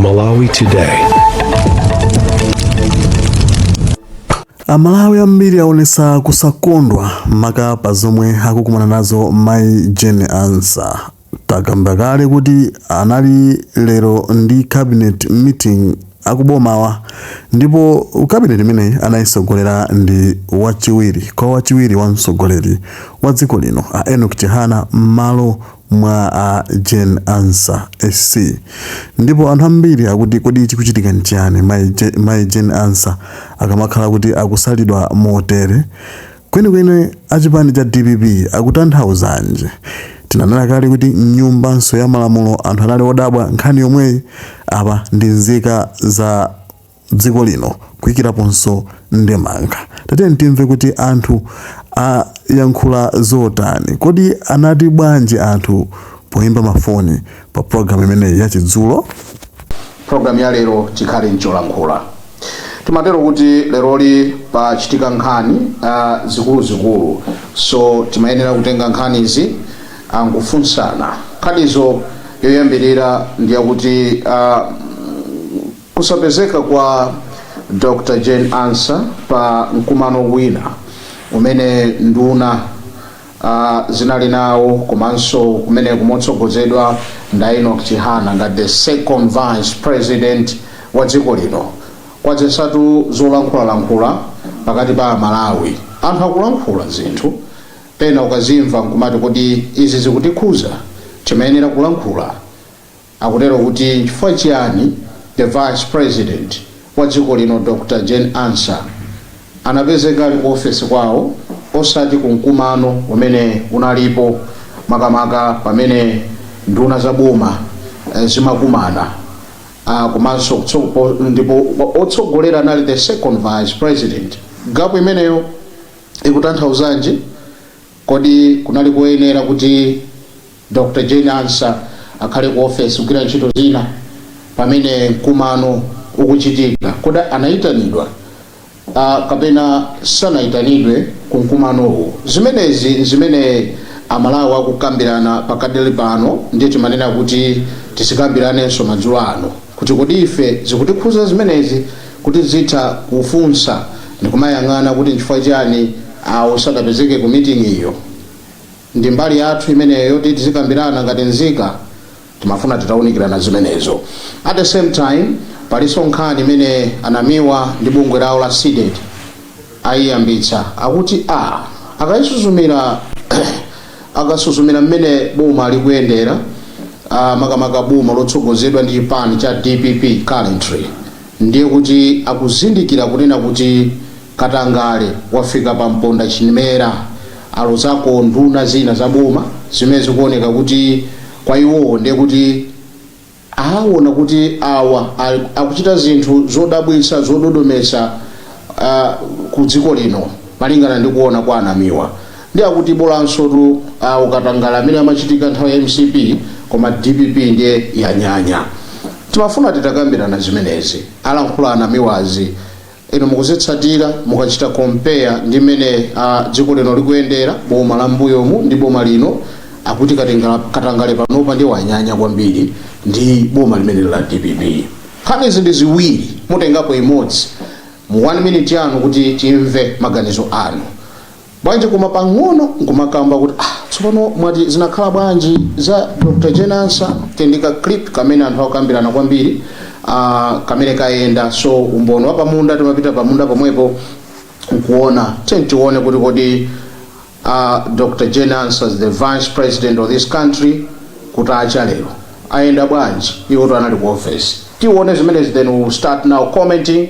Malawi Today. amalawi ambiri aonesa kusakondwa maka pa zomwe akukumana nazo mai jane ansah takamba kale kuti anali lero ndi cabinet meeting akubomawa ndipo cabinet imeneyi anayisogolera ndi wachiwiri kwa wachiwiri wa mtsogoleri wa dziko lino a enock chihana m'malo mwa a Jane Ansah, SC, ndipo anthu ambiri akuti kodi chikuchitika nchiyani mayi Je, mayi Jane Ansah akamakhala kuti akusalidwa motere? Kwenikweni achipani cha dpp akutanthauzanji? Tinanena kale kuti m'nyumbanso ya malamulo anthu anali odabwa nkhani yomweyi, apa ndi nzika za. dziko lino kuikiraponso ndemanga. Tatiyeni timve kuti anthu ayankhula zotani. Kodi anati bwanji anthu poimba mafoni pa pulogalamu imeneyi ya chidzulo? Pulogalamu ya lero tikhale n'cholankhula timatero kuti leroli pachitika nkhani zikuluzikulu so timayenera kutenga nkhanizi n'kufunsana. Nkhanizo yoyambirira ndi yakuti. Kusapezeka kwa Dr Jane Ansah pa mkumano wina umene nduna a zinali nawo komanso kumeneko motsogozedwa ndi a Enock Chihana ngati the second vice president wa dziko lino kwadzetsatu zolankhulalankhula pakati pa a Malawi. Anthu akulankhula zinthu pena ukazimva nkumati kuti izi zikutikhuza? Timayenera kulankhula. Akutero kuti nchifukwa chiyani The Vice President wa dziko lino Dr Jane Ansah anapezeka ali ku ofesi kwawo osati ku mkumano umene unalipo makamaka pamene nduna za boma zimakumana komanso ndipo otsogolera anali the Second Vice President. Gap imeneyo ikutanthauzanji? Kodi kunali koyenera kuti. Dr. Jane Ansah akhale ku ofesi kugwira ntchito zina pamene mkumano ukuchitika. Kodi anaitanidwa a kapena sanaitanidwe ku mkumanowu? Zimenezi n'zimene a Malawi akukambirana pakadli pano ndiye timanena kuti tizikambiranenso madzulo ano kuti kodi ife zikutikhuza zimenezi? Kuti tizitha kufunsa ndikumayang'ana kuti n'chifukwa chiyani awo sadapezeke ku meeting yo? Ndi mbali yathu imeneyo yoti tizikambirana ngati nzika, timafuna titaunikirana zimenezo. At the same time, palinso nkhani imene a Namiwa ndi bungwe lawo la CDEDI ayiyambitsa. Akuti a akayisuzumira akasuzumira mmene boma likuyendera, a makamaka boma lotsogozedwa ndi chipani cha DPP currently, ndiye kuti akuzindikira kunena kuti, Katangale wafika pa mponda chimera, alozako nduna zina za boma zimene zikuoneka kuti kwa iwowo ndiye kuti awona kuti awa akuchita zinthu zodabwitsa, zododometsa ku dziko lino malingana ndi kuona kwa a Namiwa. Ndiye akuti bolansotu katangale amene amachitika nthawi ya MCP koma DPP ndiye yanyanya. Timafuna titakambirana zimenezi, alankhula a Namiwazi. Inu mukuzitsatira mukachita compare ndi mmene a dziko lino likuyendera, boma la mmbuyomu ndi boma lino, akuti katenga katangale panopa ndiye wanyanya kwambiri ndi boma limeneli la DPP. Nkhanizi ndi ziwiri mutengapo imodzi mu one minute yanu kuti timve maganizo anu. Bwanji koma pang'ono nkumakamba kuti ah, tsopano mwati zinakhala bwanji za Dr. Jane Ansah tendikani clip kamene anthu akukambirana kwambiri ah, kamene kayenda so umboni wapamunda timapita pamunda pomwepo nkuona tiyeni tione kuti kodi ah, Dr. Jane Ansah the vice president of this country kuti acha lero ayenda bwanji iwotu anali ku office tione zimenezi then we will start now commenting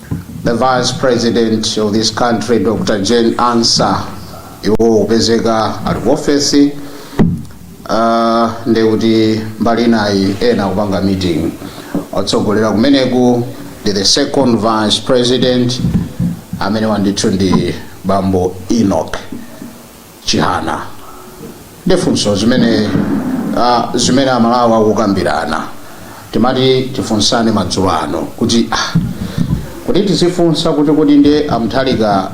The vice president of this country Dr. Jane Ansah iwo kupezeka ali ku ofesi uh, ndiye kuti mbali inayi ena kupanga meeting otsogolera kumeneku ndi the second vice president amene wandithu ndi bambo Enoch Chihana ndi funso zimene uh, zimene a Malawi akukambirana timati tifunsane madzulo ano kuti ah, kuti tizifunsa kuti kodi ndiye a Mutharika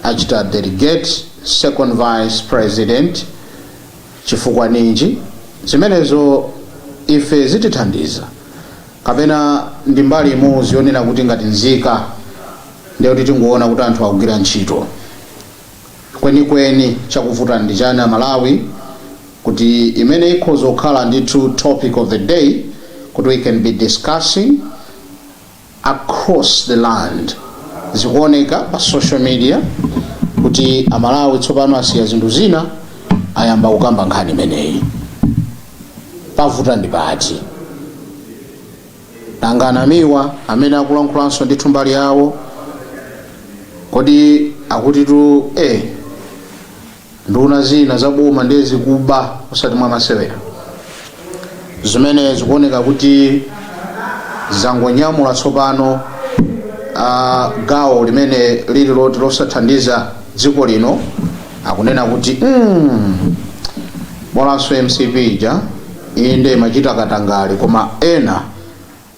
achita delegate second vice president chifukwa ninji zimenezo ife zitithandiza kapena ndi mbali imodzi yonena kuti ngati nzika ndiye kuti tingoona kuti anthu akugwira ntchito Kwenikweni chakuvuta ndi chani a Malawi kuti imene ikhoza kukhala ndithu topic of the day kuti we can be discussing across the land zikuoneka pa social media kuti a Malawi tsopano asiya zinthu zina ayamba kukamba nkhani imeneyi. Pavuta ndi pati? Nanga anamiwa amene akulankhulanso ndithu mbali yawo kodi akutitu ee nduna zina za boma nde zikuba osati mwa masewera zimene zikuoneka kuti zangonyamula tsopano a gawo limene lili loti losathandiza dziko lino akunena kuti mm, bolanso mcp ija Inde imachita katangale koma ena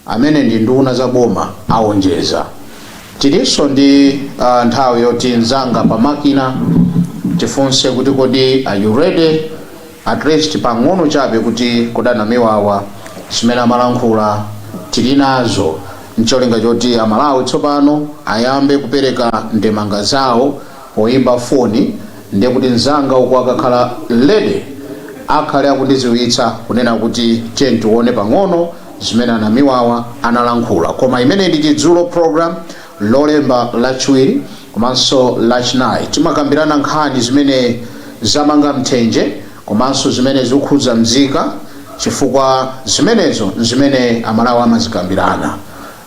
amene ndi nduna za boma aonjeza. Tilinso ndi nthawi yoti nzanga pa makina tifunse kuti kodi are you ready at least pang'ono chabe kuti kodi anamiwawa zimene amalankhula tilinazo ncholinga choti amalawi tsopano ayambe kupereka ndemanga zawo. Poimba foni ndiye kuti mzanga uko akakhala ready akhale akundiziwitsa kunena kuti tiye tione pang'ono zimene anamiwawa analankhula koma imeneyi ndi Tidzuke program lolemba lachiwiri komanso lachinayi timakambirana nkhani zimene zamanga mthenje komanso zimene zikukhudza mzika chifukwa zimenezo nzimene amalawi amazikambirana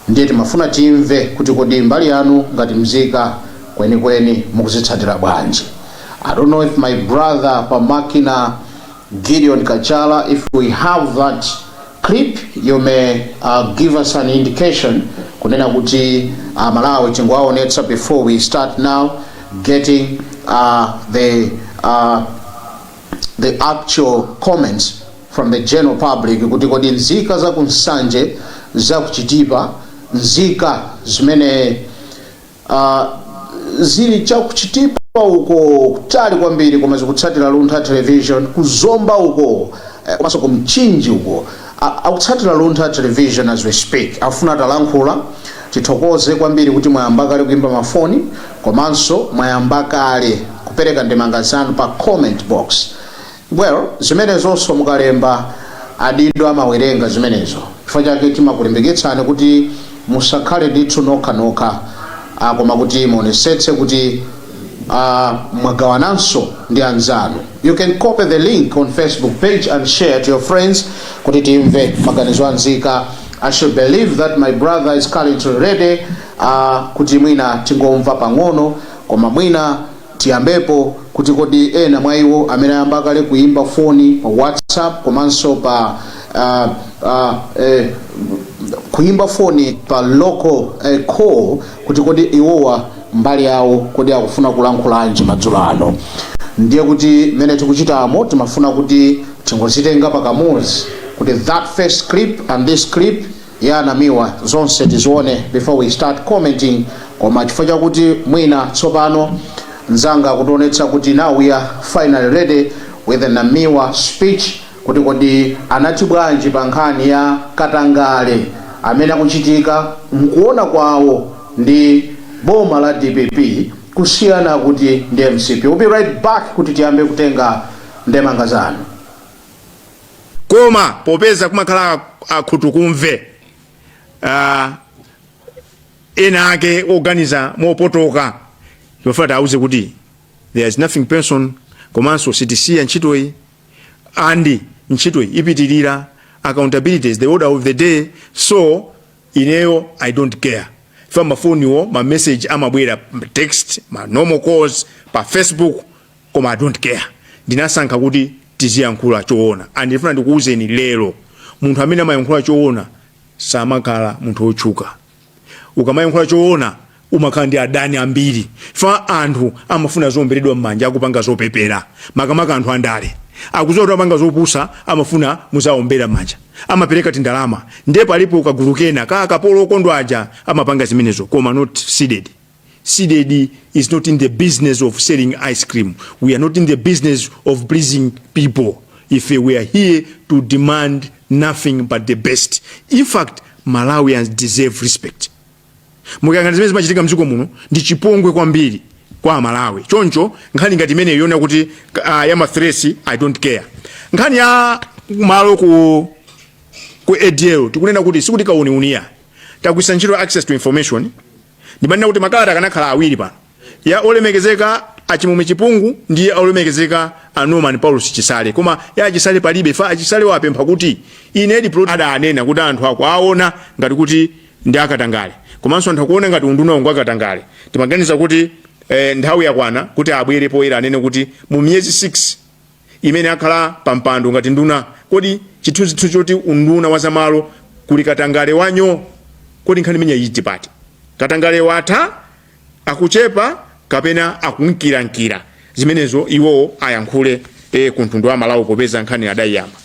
Ndiye timafuna timve kuti kodi mbali yanu ngati mzika kwenikweni mukuzitsatira bwanji? I don't know if my brother pa makina Gideon Kachala if we have that clip you may give us an indication kunena kuti a Malawi tingowaonetsa before we start now getting the the actual comments from the general public kuti kodi nzika za ku Nsanje, za ku Chitipa, nzika zimene uh, zili cha ku Chitipa uko kutali kwambiri koma zikutsatira Luntha Television ku Zomba uko eh, komanso ku Mchinji uko Akutsatira Luntha Television as we speak. Afuna atalankhula. Tithokoze kwambiri kuti mwayamba kale kuimba ma foni komanso mwayamba kale kupereka ndemanga zanu pa comment box. Well, zimenezonso mukalemba adindo amawerenga zimenezo. Chifukwa chake timakulimbikitsani kuti Musakhale ndithu nokha nokha, a, koma kuti muonesetse kuti, a, mwagawananso ndi anzanu. You can copy the link on Facebook page and share to your friends kuti timve maganizo a nzika. I should believe that my brother is currently ready, a, kuti mwina tingomva pang'ono, koma mwina. Tiyambepo kuti kodi ena mwa iwo amene ayamba kale kuyimba foni pa WhatsApp komanso pa uh, uh, eh, kuyimba foni pa local eh, call kuti kodi iwowa mbali yawo kodi akufuna kulankhulanji madzulo ano ndiye kuti mmene tikuchitamo timafuna kuti tingozitenga pakamodzi kuti that first clip and this clip ya a Namiwa zonse tizione before we start commenting koma chifukwa chakuti mwina tsopano nzanga kutionetsa kuti now we are finally ready with a Namiwa speech kuti kodi anati bwanji pa nkhani ya katangale amene akuchitika mkuona kwawo ndi boma la dpp kusiyana kuti ndi mcp we'll be right back kuti tiyambe kutenga ndemanga zanu koma popeza kumakhala akhutukumve uh, ena ake oganiza mopotoka timafuna tiwauze kuti there is nothing person komanso sitisiya ntchitoyi and ntchitoyi ipitirira accountability is the order of the day so ineyo i don't care fa mafoniwo ma message amabwera text ma normal calls pa facebook koma i dont care ndinasankha kuti tiziyankhula choona and ndifuna ndikuwuzeni lero munthu amene amayankhula choona samakhala munthu wotchuka ukamayankhula choona umakhala ndi adani ambiri fa anthu amafuna zoomberedwa m'manja akupanga zopepera makamaka anthu andale akudziwa kuti amapanga zopusa amafuna muziwaombera m'manja amapereka tindalama ndiye palipo kagulu kena ka akapolo okondwa aja amapanga zimenezo koma not Cdedi Cdedi is not in the business of selling ice cream. We are not in the business of pleasing people. We are here to demand nothing but the best. In fact, Malawians deserve respect. mukayang'ana zimene zimachitika mdziko muno ndi chipongwe kwambiri kwa amalawi choncho nkhani ngati imeneyo yonena kuti uh, ya mathresi i don't care nkhani ya malo ku ku adl tikunena kuti sikuti kauniuniya tagwiritsa ntchito access to information ndimanena kuti makalata akanakhala awiri pano ya olemekezeka a Chimwemwe chipungu ndi ya olemekezeka a norman paulosi chisale koma ya achisale palibe fa achisale wapempha kuti ine diplo adanena kuti anthu akuwaona ngati kuti ndi akatangale komanso anthu akuona ngati unduna wangu akatangale timaganiza kuti eh, nthawi yakwana kuti abwere poyera anene kuti mu miyezi 6 imene akhala pa mpando ngati nduna kodi chithunzithu choti unduna wa zamalo kuli katangale wa nyoo kodi nkhani imeneyi ili pati katangale watha akuchepa kapena akunkirankira zimenezo iwo ayankhule e, ku mtundu wa malawi popeza nkhani adayiyamba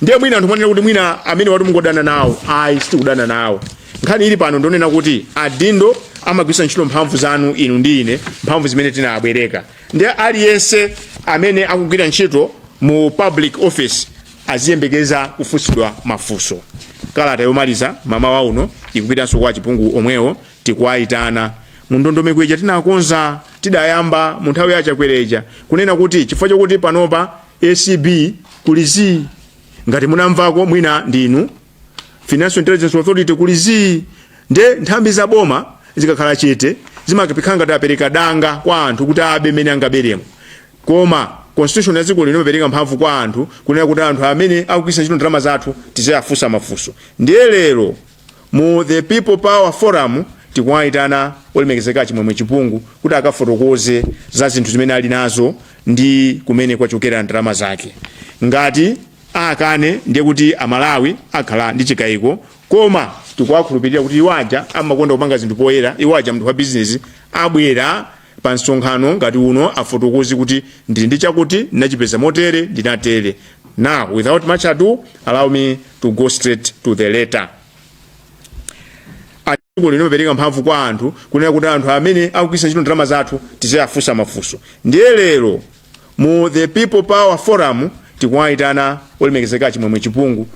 ndiye mwina anthu mwanena kuti mwina amene akuti mukungodana nawo ayi sitikudana nawo nkhani ili pano ndonena kuti adindo amagwiritsa ntchito mphamvu zanu inu ndi ine mphamvu zimene tinabwereka ndi aliyense amene akugwira ntchito mu public office aziyembekeza kufunsidwa mafunso kalata yomaliza mmawa uno ikupitanso kwa achipungu omwewo tikuwayitana mu ndondomeko ija tinakonza tidayamba mu nthawi ya Chakwera ija kunena kuti chifukwa chakuti panopa acb kuli zii ngati munamvako mwina ndinu financial intelligence authority kuli zii nde nthambi za boma zikakhala chete zimakhala ngati apereka danga kwa anthu kuti abe mene angaberemo koma constitution ya dziko lino imapereka mphamvu kwa anthu kunena kuti anthu amene akugwiritsa ntchito ndalama zathu tiziwafunsa mafunso ndiye lero mu the people power forum tikuwayitana olemekezeka chimwemwe chipungu kuti akafotokoze za zinthu zimene ali nazo ndi kumene kwachokera ndalama zake ngati akane ndiye kuti amalawi akhala ndi chikayiko koma tikuwakhulupirira kuti iwo aja amakonda kupanga zinthu poyera iwo aja mnthu wa bizinesi abwera pa msonkhano ngati uno afotokoze kuti ndili ndi chakuti ndinachipeza motere ndinatere now without much ado allow me to go straight to the letter dziko lino limapereka mphamvu kwa anthu kunena kuti anthu amene akugwiritsa ntchito ndalama zathu tiziwafunsa mafunso ndiye lero mu the people power forum tikuwayitana olemekezeka chimwemwe chipungu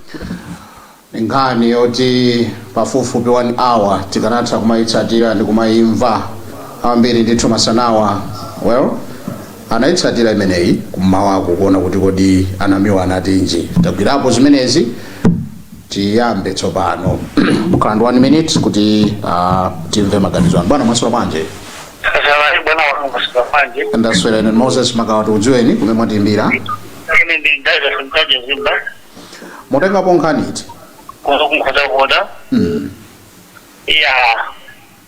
nkhani yoti pafupifupi 1 hour tikanatha kumayitsatira ndi kumayimva ambiri ndithu masanawa anayitsatira imeneyi kummawako kuona kuti kodi anamiwa anatinji tagwirapo zimenezi tiyambe tsopano mukhala ndi one minute kuti ah, timve maganizo anu bwana mwaswera bwanji Zalai bwana wangu masika manje. ndaswera ine moses makawa tikudziweni kumene mwatiimbira Ine ndi David Mtaje Zimba. mutengapo nkhani iti Kuno kunkhotakota. mm. Ya.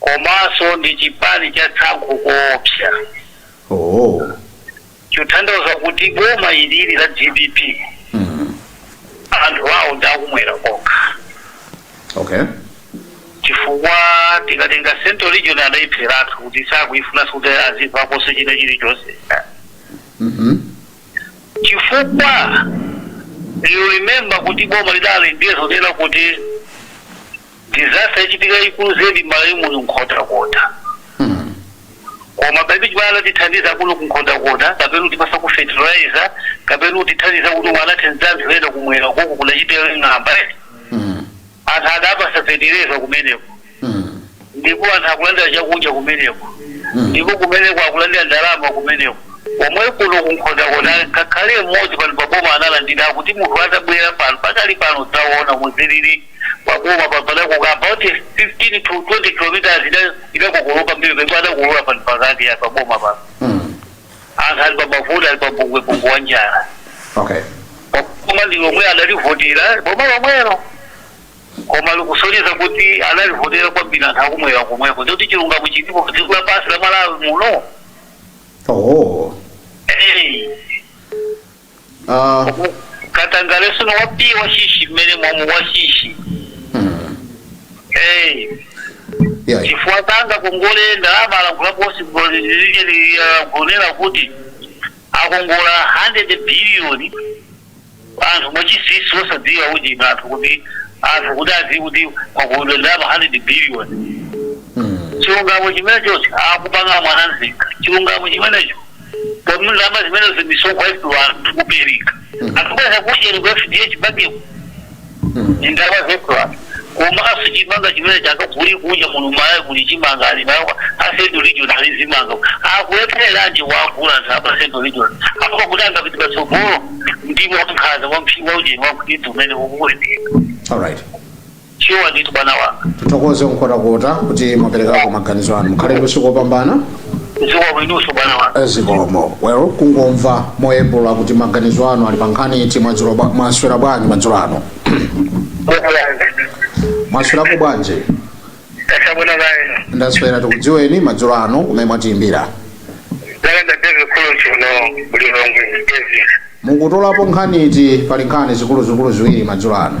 komanso ndi chipani cha tsankho koopsa Ooo. chotanthauza kuti boma ilili la dpp Mm. anthu awo ndi akumwera kokha Okay. chifukwa tikatenga central region adaipheratu kuti sakuifunanso kuti azimvaponso china chilichonse Mhm. chifukwa you remember kuti boma lidali ndiye zonena kuti disaster idachitika yayikulu zedi malawi muno nkhotakota koma palibe chimene adatithandiza kuno kunkhotakota kapena kutipatsako fertilizer kapena kutithandiza momwe anathandizira anthu ena kumwerako kudachita ng'amba eh. anthu adapatsidwa fertilizer kumeneko ndipo anthu akulandira chakudya kumeneko ndipo kumeneko akulandira ndalama kumeneko pomwe kuno kunkhotakota ngakhale mmodzi pano paboma analandira kuti munthu atabwera pano pakali pano taona muzilili paboma pano about 15 to 20 kilometers ida idakokoloka kwambiri pemwe adakulula pano pakati ya paboma pano anthu ali pamavuto ali pabungwe bungu wa njala okay koma ndi omwe adalivotera boma lomwelo koma zikusonyeza kuti adalivotera kwambiri anthu akumwera komweko ndikuti chilungamo chilipo pa dziko lapansi la malawi muno oh Eh, Ah, katangale sono wapiye wachinsinsi mmene mwamu wachinsinsi mm, Eh, yeah. chifukwa kanga kongole ndalama alankhula posi kunena kuti akongola 100 biliyoni anthu mwachinsinsi osadziwa kuti anthu kuti anthu kuti adziwe kuti takongola ndalama 100 biliyoni Mm, chilungamo chimenecho akupanga mwana nzika chilungamo chimenecho Koma ndalama zimene zamisonkho yetu anthu kupereka. Akubweza kuchokera ku FDH banki ndi ndalama zetu anthu. Komanso chimanga chimene chakaguli kuja muno Malawi kuli chimanga ali nawo a central region ali zimanga. Akulephereranji kuwagula anthu apa a central region. Apo kuti angapite patsogolo ndi wankhanza wa mphi wa ujeni wa kuti umene ukuwoneka. All right. shuwa ndithu bwana wanga tithokoze Nkhotakota kuti mwaperekako maganizo anu mukhale ndi usiku wopambana zikomo kwambiri bwana wanga zikomo well kungomva moyepura kuti maganizo anu ali pa nkhani iti mwadzulo bwa- mwaswera bwanji madzulo ano mwaswerako bwanji tatsala pa lineyo ndaswera tikudziweni madzulo ano kumene mwatiyimbira langa ndi david kulusi kuno ku Lilongwe david mukutolapo nkhani iti pali nkhani zikuluzikulu ziwiri madzulo ano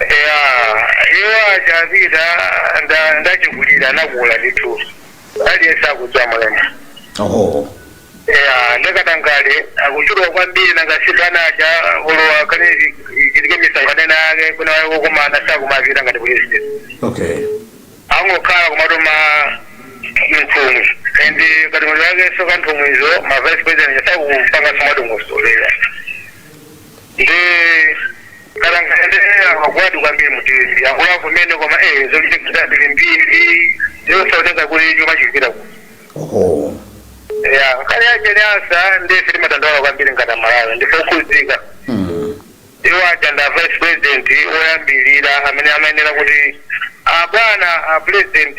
Eya, iwo aja apita nda- ndachikulira anakula ndithu aliyense akudza mulema oho eya nde katangale akuchuluka kwambiri nanga si bwana aja olowa kane chitike misonkhano ena yake kuna waye wokumana sakumapita ngati pulezidenti okay angokhala kumatuma nthumwi and katundu yake soka nthumwizo ma vice president sakumpanga somadongosolera nde katangale magwadu kwambiri muthedi akula kumene koma eh zochitika zambirimbiri zosaoneka kuti chuma chikupita ku oho ya kale aja ni asa ndiye ife timadandaula kwambiri ngati amalawi ndife okhudzika Mm. iwo aja ndi a vice president oyambirira amene amayenera kuti abwana a president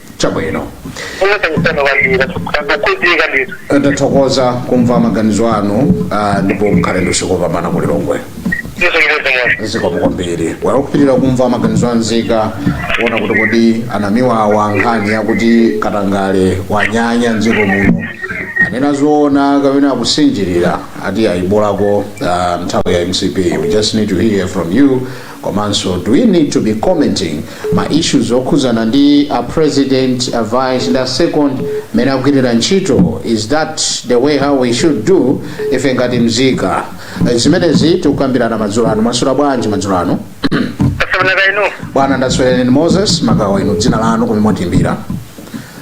chabwino unatakutana kwambiri akakuzika ndithu ndathokoza kumva maganizo anu ah, ndipo mukhale ndi usiku wopambana ku lilongwe yesu ndimodzi zikomo kwambiri tikupitirira kumva maganizo a nzika kuona kuti kodi a NAMIWA pa nkhani yakuti katangale wanyanya mdziko muno anena zoona kapena akusinjirira ati zayipirako ah, nthawi ya mcp we just need to hear from you Komanso do we need to be commenting ma issues okhuzana ndi a president, a vice ndi a second mmene akugwirira ntchito? Is that the way how we should do ife ngati mzika? Eh, Zimenezi tikukambirana madzulo ano. Mwaswera bwanji madzulo ano? Taswera kaya inu. Bwana ndaswera ndine Moses magawa inu dzina lanu komwe mwatiyimbira.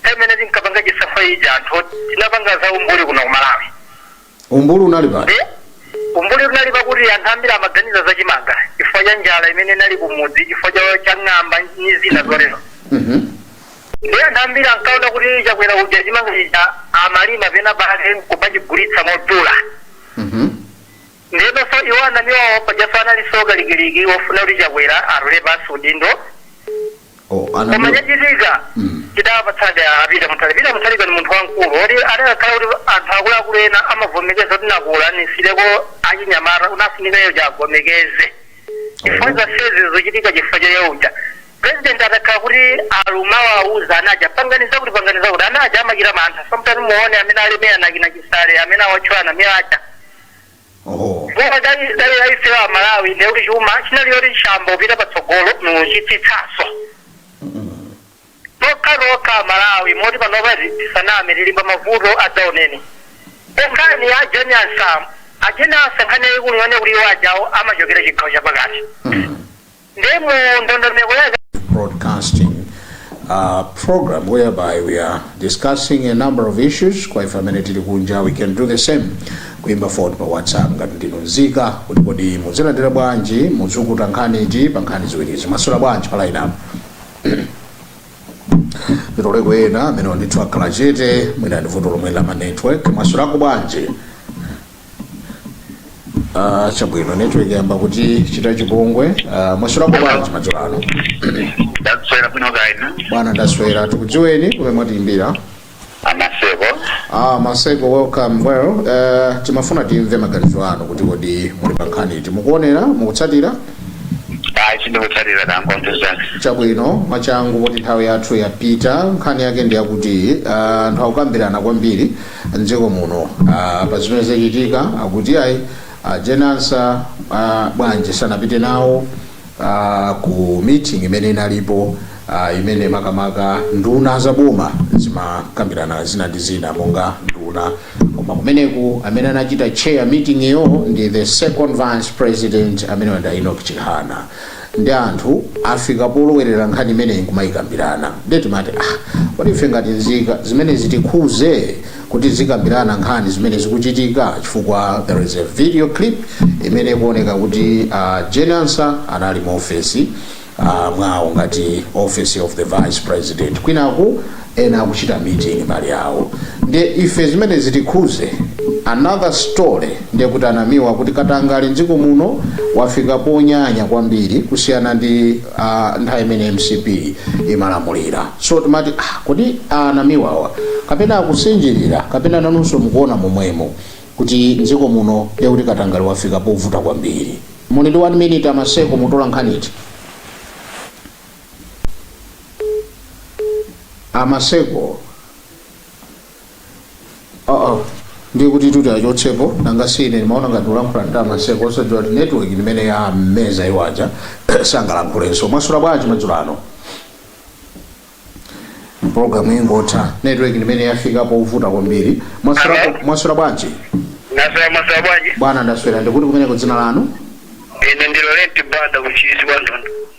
Nthawi imene tinkapanga chisankho ija anthu tinapanga za umbuli kuno ku Malawi Umbuli unali pati? nde umbuli unali pakuti anthu ambiri amaganiza za chimanga chifukwa cha njala imene inali kumudzi chifukwa cha ng'amba ndi zina zotero. Nde anthu ambiri ankaona kuti Chakwera uja chimanga chija amalima pena pake nkumachigulitsa modula. Ndenso iwo Anamiwawa pajanso analinso kalikiliki ofuna kuti Chakwera atule pansi udindo. Oh, koma chachitika Mm. chidawapatsabe a Peter Mutharika Peter Mutharika ndi munthu wamkulu woti adakakhala kuti anthu akuluakulu ena amavomekeza kuti ndakula nisireko achinyamata unafunika iyo chagomekeze chifukwa zonsezi zochitika chifukwa cha awo aja president atakhala kuti alimo awuza ana aja panganiza kuti panganiza kuti ana aja amachita mantha sometimes muone amene alemeya anakina Chisale amene awatchula Anamiwa aja Oho. Boma dali dali la ife wa Malawi ndi kuti chuma chinali choti chayamba kupita patsogolo mu chitsitsaso. Lokha lokha Malawi moti panopa tisaname tili mmavuto adzaoneni. Nkhani ya Jane Ansah, Ajane Ansah nkhani yayikulu yone kuti iwo ajawo amachokera chigawo chapakati. ndi mu ndondomeko ya broadcasting uh, program whereby we are discussing a number of issues kwa ife amene tili kunja we can do the same kuimba foni pa whatsapp ngati ndinu nzika kuti kodi muzilandira bwanji muzukuta nkhani iti pa nkhani ziwirizi mwaswera bwanji pa line up ndithu aliko ena amenewa ndithu akhala chete mwina ndi vuto lomwe la ma network mwaswerako bwanji Ah, chabwino network yayamba kutichita chipongwe uh, mwaswera bwanji madzulo ano ndaswera bwino kaya a bwana ndaswera tikudziweni kumene mwatiimbira amaseko ah, maseko welcome well uh, timafuna timve maganizo anu kuti kodi muli pa nkhani iti mukuonera mukutsatira ayi sindikutsatira ndangomvera chabwino mwachangu kuti nthawi yathu yapita nkhani yake ndi yakuti ah, anthu akukambirana kwambiri mdziko muno ah, pa zimene zachitika akuti ayi a Jane Ansah ah, bwanji sanapite nawo ah, ku meeting imene inalipo ah, imene makamaka nduna za boma zimakambirana zina ndi zina monga nduna koma kumeneku amene anachita chair meeting iyo ndi the second vice president amenewa nda Enoch Chihana nde anthu afika polowerera nkhani imeneyi nkumayikambirana nde timati ah kodi ife ngati nzika zimenezi zitikhuze kuti tizikambirana nkhani zimene zikuchitika chifukwa there is a video clip imene ikuoneka kuti a Jane Ansah anali mu ofesi ah, mwawo ngati office of the vice president kwinaku ena akuchita meeting mbali yawo nde ife zimene zitikhuze another story ndiye kuti anamiwa kuti katangale mdziko muno wafika ponyanya kwambiri kusiyana ndi uh, nthawi imene mcp imalamulira so timati ah, kodi anamiwawa kapena akusinjirira kapena nanunso mukuona momwemo kuti mdziko muno ndiye kuti katangale wafika povuta kwambiri muli ndi 1 minute amaseko mutola nkhani iti amaseko aa ndiye kuti tuti achotsepo nanga sine ndimaona ngati ulankhula ndi amaseko osadziwa kuti network ndi imene yawameza iwaja sangalankhulenso mwaswera bwanji madzulo ano programu ingotha network ndi imene yafika povuta kwambiri mwaswera Hello? mwaswera bwanji ndaswera mwaswera bwanji bwana ndaswera ndikuti kumeneko dzina lanu ine ndi Laurent banda ku Ntchisi kwa Nthondo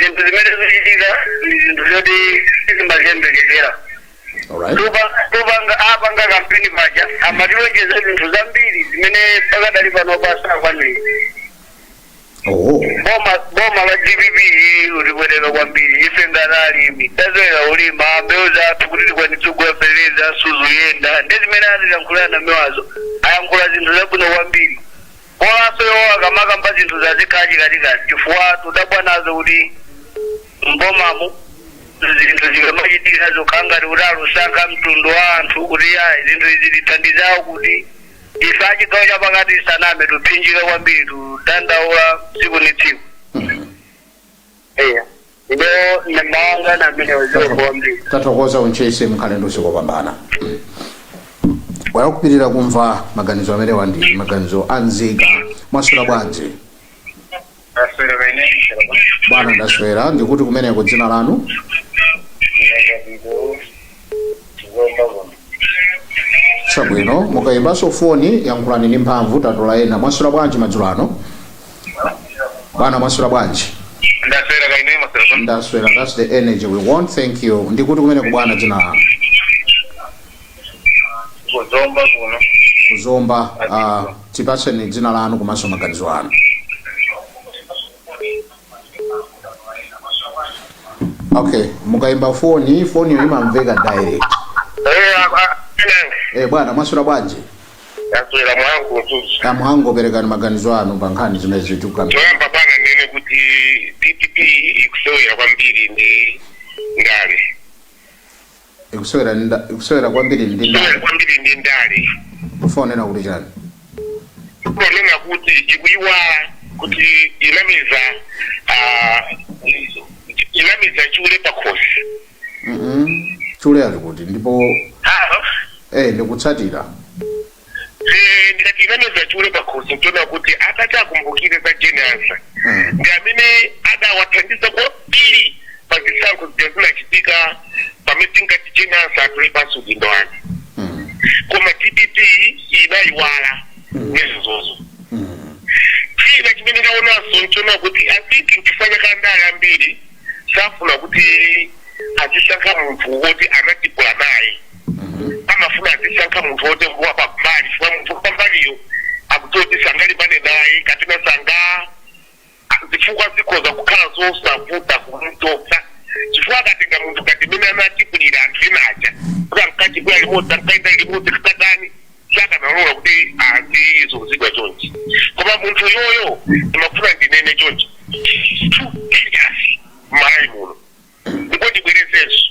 zinthu zimene zikuchitika ndi zinthu zoti sitimaziyembekezera alright topanga apanga kampeni paja amatilonjeza zinthu zambiri zimene pakadali pano pano sakwanira oh boma boma la dpp ulibwereka kwambiri ife ngati alimi tazera ulima mbewu zathu kuti tikwanitse kuwapereza suzuyenda ndi zimene atilankhula anamiwazo ayankhula zinthu zabwino kwambiri Bolanso iwowo akamakamba zinthuzi azikhala chikatikati chifukwa tudabwa nazo kuti m'bomamu zinthu zikamachitika zokhala ngati kuti alusankha mtundu wa anthu kuti ayi zinthu izi tithandize awo kuti ife achigawo chapakati tisaname tuphinjika kwambiri tudandaula tsiku ni tsiku eya ndiye nambewe anga ndi amene waziwa kwambiri tathokoza ku Ntchisi mukhale ndi usiku opambana wayakupitirira kumva maganizo amene wandi maganizo anzika mwaswera bwanji ndaswera kaya ine bwana ndaswera ndikuti kumeneko dzina lanu ndakapito chabwino mukayimbanso foni yankhulani ndi mphamvu tatola ena mwaswera bwanji madzulo ano bwana mwaswera bwanji ndaswera kaya inu mwaswera ndaswera that's the energy we want thank you ndikuti kumeneko bwana dzina lanu kuzomba kuno kuzomba uh, tipatseni dzina lanu komanso maganizo anu okay mukaimba foni foniyo imamveka direct eh bwana mwaswera bwanji ndaswera Mhango Mzuzu amhango perekani maganizo anu pa nkhani zimene zatukuka choyamba bwana ndinene kuti dpp ikusewera kwambiri ndi ndale ikusewera ndi nda- ikusewera kwambiri ndi ndale ndale kwambiri ndi ndale mufuna kunena kuti chani ponena kuti ikuyiwala kuti inameza ah, inameza chule pakhosi Mhm. chule ali kuti ndipo Halo? eh ndikutsatira Eee ndikati inameza chule pakhosi nchoona kuti atati akumbukire za Jane Ansah ndi amene adawathandiza kwambiri pa zisankho zija zinachitika pamene tinkati Jane Ansah atule pansi udindo wake koma dpp inayiwala nezizozo china chimene ndaonanso nchoona kuti i think nchifukwa chake andale ambiri safuna kuti azisankha munthu woti anatipula naye amafuna azisankha munthu woti ngwa pambali chifukwa munthu wa pambaliyo akudziwa kuti sangalimbane naye kapena sanga zifukwa zikhoza kukhala zosavuta kumutopsa chifukwa akatenga munthu ngati mmene anatipulira anthu ena aja kuti ankachibwera limodzi ankayenda limodzi kakatani sakanalola kuti azizunzidwa chonchi koma munthu yoyo ndimafuna ndinene chonchi two areas m'malawi muno ndipo ndibwerezenso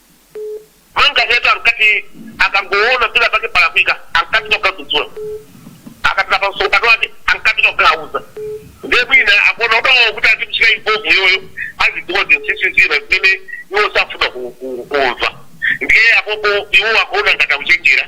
Manganya yetu ankati akangoona pena pake palakwika ankati tikadzudzula akapita pa msonkhano wake ankati tikauza ndiye mwina akuona adawo kuti azimchita involve yoyo azidziwa zinsinsi zina zimene iwo safuna ku- ku- kumva ndiye apopo iwo akuona ngati akuchenjera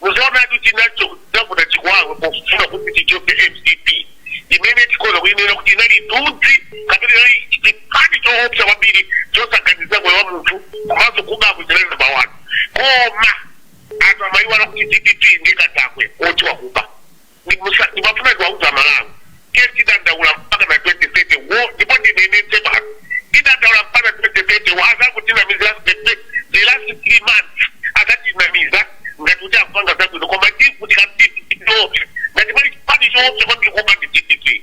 Muzaonatu chinacho chidzavuta chikuwawe pofuna kuti ichoke mcp imene tikhoza kuinena kuti inali tudzi kapena inali chipani choopsa kwambiri chosaganizira moyo wa munthu komanso kubako chinali number 1 koma anthu amaiwala kuti dpp ndiye katakwe woti wakuba. Ndiye ndimafuna ndiwauze amalawi tiye tidandaula mpaka na 2030 wo ndipo ndinenetse basi tidandaula mpaka 2030 wo azangotinamiza the, the, the last 3 months azatinamiza ngati kuti akupanga zabwino koma tivutika mtiti tiopsa ngati pali chipani choopsa kwambiri kuba ndi dpp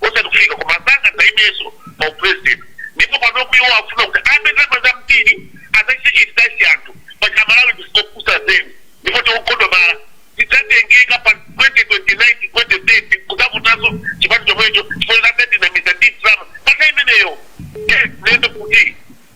osati kufika koma sangadzaimenso pa u president ndipo panopo iwo akufuna kuti abe ndalama zambiri adzachite entice anthu paja amalawi ndife opusa zedi ndipo tikugodomala tidzatengeka pa 2029 ndi 2030 kudzavotanso chipani chomwecho chifukwa choti adzatinamiza ndi ndalama pa nthawi imeneyo ndiye ndinene kuti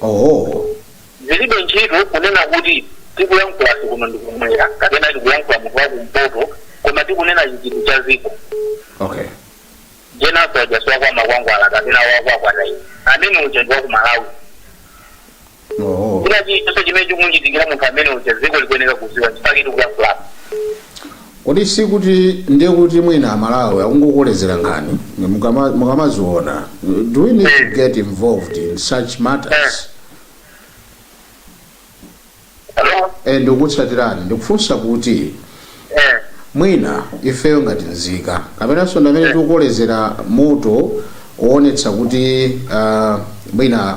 Oho. Zilibe ntchito kunena kuti tikuyankhulafe kuno ndi kumwera kapena tikuyankhula munthu wakumpoto koma tikunena chichiri cha ziko. Okay. Jane Ansah uja si wa kwa makwangwala kapena wakwa kwatayi. Amene uja ndi wa ku Malawi. Oho. Kuti chilichonse chimene chikumuchitikira munthu amene uja ziko likuyenera kuziwa chifukwa tikuyankhulapo. Kodi sikuti ndiye kuti mwina aMalawi akungokolezera nkhani mukama- mukamaziona do we need to get involved in such matters Hello? Eh, ndikutsatirani ndikufunsa kuti Eh, mwina ifeyo ngati nzika kapenanso ndi amene tikukolezera moto woonetsa kuti ah, mwina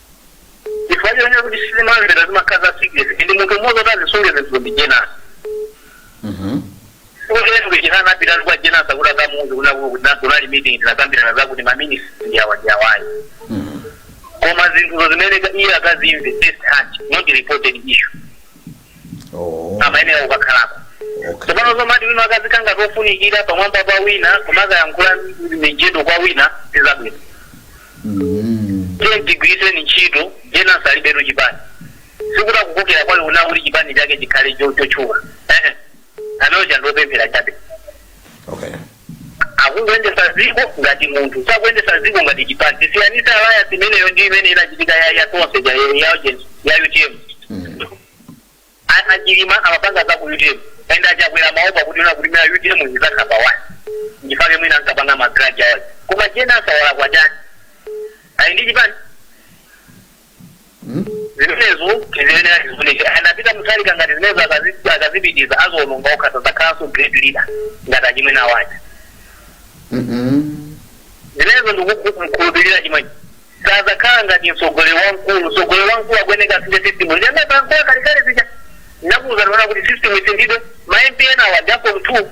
Chifukwa chonena kuti sizimamvera zimakhala za secret ndi munthu mmodzi kuti azisunge zinthu ndi Jane. Chifukwa chonena kuti china anapitatu kwa Jane Ansah kuti akamuuze kunena kuti kuti na- kunali meeting tinakambirana zakuti ma ministry ndi awa ndi awayi. Koma zinthuzo zimene ka- iye akazimve first hand not reported issue. Oh, amayenera kukakhalako okay. tsopano zomati wina akazikhala ngati ofunikira pamwamba pa wina kumakayankhula mijedo kwa wina sizabwino Mm. tiye tigwiritseni ntchito Jane Ansah alibetu chipani sikuti akukokera kwawo kunena kuti chipani chake chikhale cho- chotchuka Ehe. anayenera azingopemphera chabe Okay. Akuyendesa dziko ngati munthu sakuyendesa dziko ngati chipani tisiyanise alliance imeneyo ndi imene inachitika ya ya tonse ija ya ya ujeni ya utm a a chilima amapanga za ku utm and a chakwera amaopa kunena kuti mwina utm izakhapa one ndichifukwa chake mwina ankapanga ma grudge awazi koma Jane Ansah walakwa chani ali ndi chipani zimenezo tiziyenera tizifunike anapita mutalika ngati zimenezo akazi- akazipitiza azazionongera okha sadzakhalanso great leader ngati achimwene awaja zimenezo ndikukhulupirira chimwe sadzakhala ngati mtsogoleri wamkulu mtsogoleri wamkulu akuyeneka asinthe system ndi amene pankoya kalekale zija nakuwuzani kunena kuti system isinthidwe ma mp enawa ndi aform two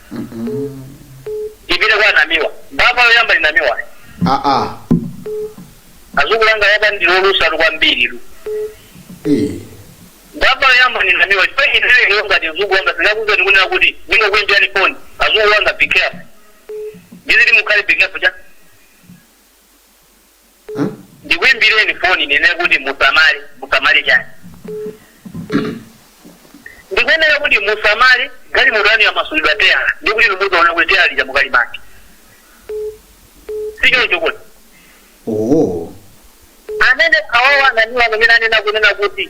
tipite kwa namiwa mbava yoyamba ndi namiwa aa azukulanga yaba ndilolusa kwambiri lu eh mbava yoyamba ndi namiwa chifukwa ineyo ngati azukulanga sinakuza ndikunena kuti ndingokuimbirani foni azukulanga be careful ndiziti mukhale be careful cha Ndikuimbireni foni ndinene kuti musamale? Musamale chani? Ndikuyenera kunena kuti musamale galimoto yanu yamasulidwa teyala ndiye kuti inu muzaona kuti teyala lija mukalimake sichoncho kodi? Ooh. Amene awawa a Namiwa amene anena kunena kuti.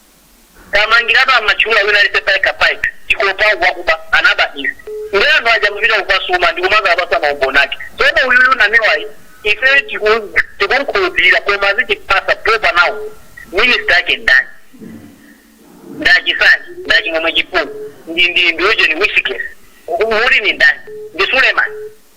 Tamangirani amatchula wina aliyense payekha payekha tikupopa wakuba anaba izi nde anthu aja amapita kukasuma ndikumazawapatsa maumboni ake tsono uyuyu namiwayi ifeyo tikumukhulupirira koma azitipatsa proper nouns minister ake ndani ndi a Chisale ndi a Chimwemwe Chipungu ndi ndi ndi ujeni wisikesi uli ndi ndani ndi suleman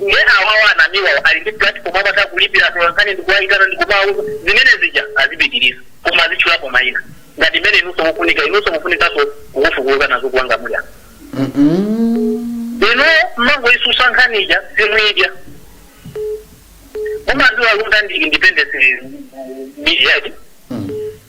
nde awawa nawo amiwawo ali ndi platform amatha kulipira atolankhani ndikuwayitana ndikumawauza zimene zija azipitiriza koma azitchulako mayina ngati mmene inunso mufunika inunso mufunikanso kufufuza nazo kuwanga muli apa inu mmangoyitsutsa nkhani ija simuyidya mumaziwa lunda ndi independence media iti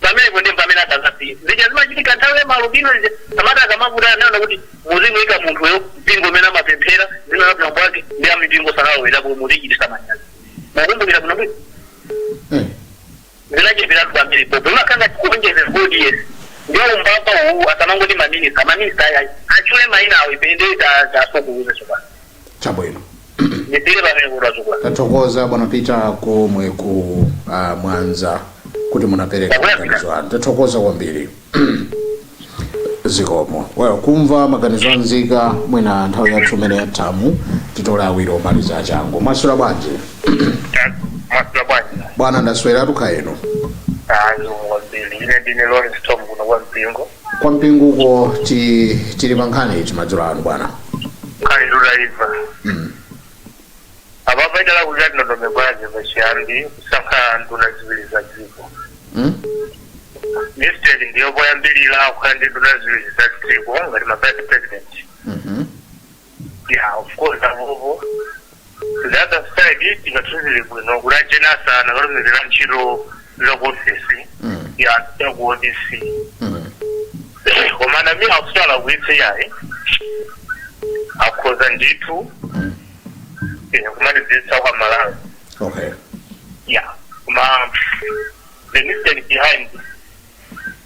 Pamenepo nde pamene asangasiye. Zija zimachitika nthawi ya maalubino zija, samatha akamavuta anaona kuti muzimuika munthuyo mpingo umene amapemphera, dzina la bambo ake ndi a mipingo sanalowererepo muzichititsa manyazi. Mukumbukira bwino bwino? Eh. zinachitiratu kwambiri pompo imakanga tikuonjeze kodi yesi ndio umbapa uwu asamangoti maminister maminister ayi atchule maina awo ipende tasokuluze sopano chabwino ndithire pamene kuti wachukula tathokoza bwana peter komwe ku uh, mwanza kuti munapereka maganizo anu tathokoza kwambiri zikomo well kumva maganizo anzika mwina nthawi yathu imene yathamo titole awiri omaliza achangu mwaswera bwanji mwaswera bwanji bwana ndaswera kaya inu ayi kwambiri ine ndine lawrence tom kuno kwa mpingo kwa mpingoko ti, tili pa nkhani iti madzulo ano bwana nkhani titaiona apapa idalakwika ndi ndondomeko yake pachiyambi kusankha nduna ziwiri za dziko mm? mistake ndiyo poyambirira kukhala ndi nduna ziwiri za dziko ngati ma vice president mm -hmm. Yeah, of course, apopo. The other side, tingauziwe bwino kuti a Jane Ansah akanalumikizira ntchito za ku ofesi Mm. ya ya ku opc Mm. komanso mwina akusala kuitse yayi akhoza ndithu Mm. eh, kumalizitsa kwa malawi Okay. yeah koma the mistake behind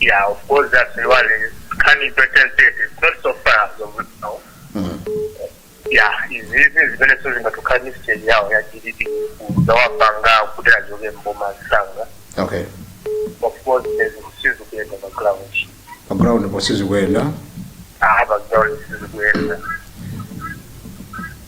Yeah, of course that's the one coming to translate. It's not so far as of now. Yeah, izizi zimene sizingatokhala ndi stage yawo ya dpp zawapanga kuti achoke mboma msanga okay of course sizikuyenda pa ground pa ground po sizikuyenda aha pa ground sizikuyenda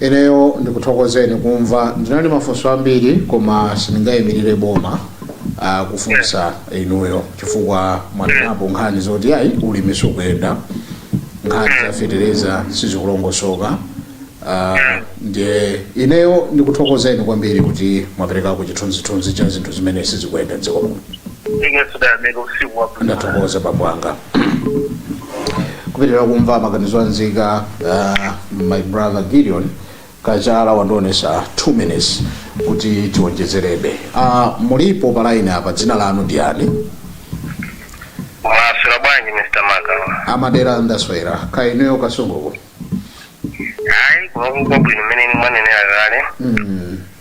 ineyo ndikuthokozeni kumva ndinali mafunso ambiri koma sindingayimirire boma ah, kufunsa inuyo chifukwa mwanenapo nkhani zoti ayi ulimi sukuyenda nkhani za fetereza sizikulongosoka Ah, ndiye ineyo ndikuthokozeni kwambiri kuti mwaperekako chithunzithunzi cha zinthu zimene sizikuyenda mdziko muno ndingotsanzika usiku wabwino ndathokoza bambo anga kupitira kumva maganizo a nzika uh, my brother gideon kachala wandionesa 2 minutes kuti tiwonjezereredwe uh, mulipo palaini apa dzina lanu ndi yani mwaswera bwanji mr maka a Madela ndaswera kaya inuyo Kasunguko hayi kunokuko bwino mmene inu mwanenera kale mm.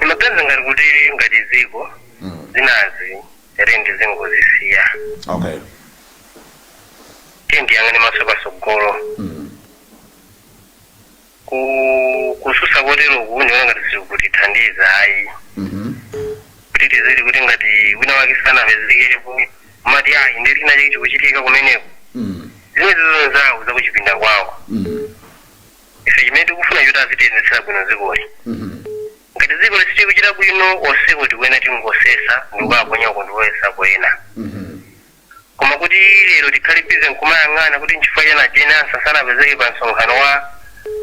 Ndimaona ngati kuti ngati dziko zinazi bwenzi tizingozisiya okay tiyeni tiyang'ane maso patsogolo ku kutsutsa koteroku ndiona ngati sikutithandiza ayi Mhm. kuti tizili kuti ngati wina wake sanapezekepo mati ayi ndiye china chake chikuchitika kumeneko Mm. zimenezo ndi zawo zakuchipinda kwawo Mm. ife chimene tikufuna choti azitiyendetsera bwino dzikoli ngati dzikoli sitikuchita bwino onsewo tikuyenera tingosesa ndikuwaponya uko ndikuyesako ena koma kuti lero tikhale bize nkumayang'ana kuti nchifukwa chani Jane Ansah sanapezeke pa msonkhano wa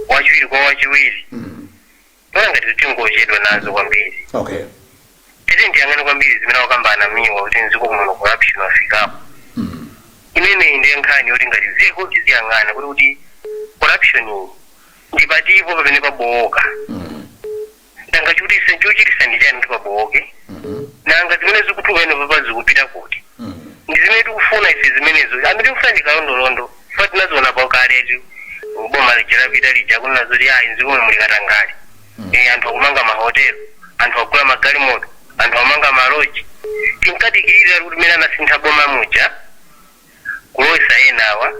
wachiwiri kwa wachiwiri Ndiona ngati tingochedwa nazo kwambiri. Okay. Tiyeni tiyang'ane kwambiri zimene akukamba a Namiwa kuti mdziko muno corruption wafikapo. Imeneyi ndiye nkhani yoti ngati dziko tiziyang'ana kuti kuti corruption iyi ndi patipo pamene pabowoka. Nanga chikuti chochitisa ndi chani kuti pabowoke? Nanga zimene zikutuluka ino papa zikupita kuti? Ndi zimene tikufuna ife zimenezo. Zimene tikufuna ndi kalondolondo. Chifukwa tinaziona pakaletu boma lija lapita lija kumva zoti ayi mdzikomo muli katangale Eh, anthu akumanga mahotelo anthu akugula magalimoto anthu akumanga maloji tinkadikirira kuti mmene anasintha boma muja kulowesa enawa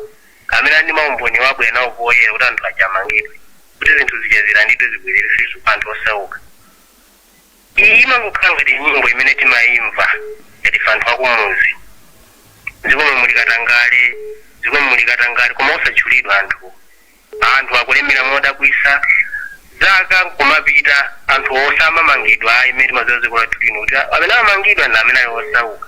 amene ali ndi maumboni abwere nawo poyera kuti anthu aja amangidwe kuti zinthu zija zilandidwe zibwerere kwa anthu osauka Iyi imangokhala ngati nyimbo imene timaimva ngati ife anthu akumuzi. M'dzikomu muli katangale, m'dzikomu muli katangale koma osatchulidwa anthuwo. Anthu akulemera modabwitsa, zaka nkumapita anthuwo samamangidwa ayi mmene timadziwira dziko lathu lino kuti amene amamangidwa ndi amene ali osauka.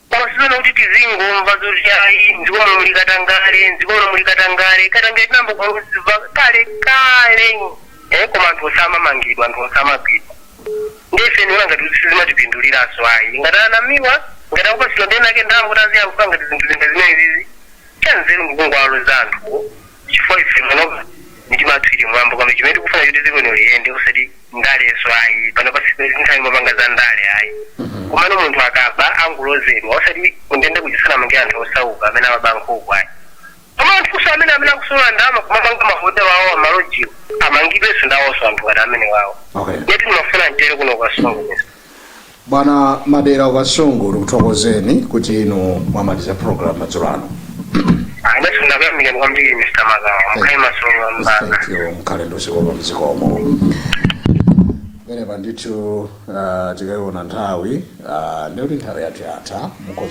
Koma sizoona kuti tizingomva zoti ayi mdziko muno muli katangale, mdziko muno muli katangale. Katangale tinayamba kumva kale kale eh koma anthu osamamangidwa, anthu osamagwidwa. Ndi ife ndiona ngati kuti sizimatipinduliranso ayi. Ngati anamiwa, ngati akupatsidwa ndena ake ndalama kuti aziyankhula ngati zinthu zinthu zimene zizi. Chanzeru ndi kungowaloza anthu. chifukwa ife panopa mitima yathu ili m'mwamba kwambiri chimene tikufuna choti dziko lino liyende osati ndalenso ayi panopa sinthawi yopanga za ndale ayi komano munthu akaba angulozedwa osati kundende kuzizidzamangidwa anthu osauka amene amaba nkhuku ayi koma anthunso amene amene akusolola ndalama kumapanga mahotela awo malojiwo amangidwenso ndawonso anthu ngati amene wawo Okay. ndiye ndimafuna nditero kuno ku Kasungu Bwana Madera ku Kasungu tikuthokozeni kuti inu mwamaliza program madzulo ano. Ndafuna kuyamika kwambiri Mr. Magawa. Mukhale masolo mbaka. Thank you mkhale ndi zikomo zikomo. Pamenepa ndithu ah, tikaiona nthawi ah, ndikuti nthawi yathu yatha mukhoza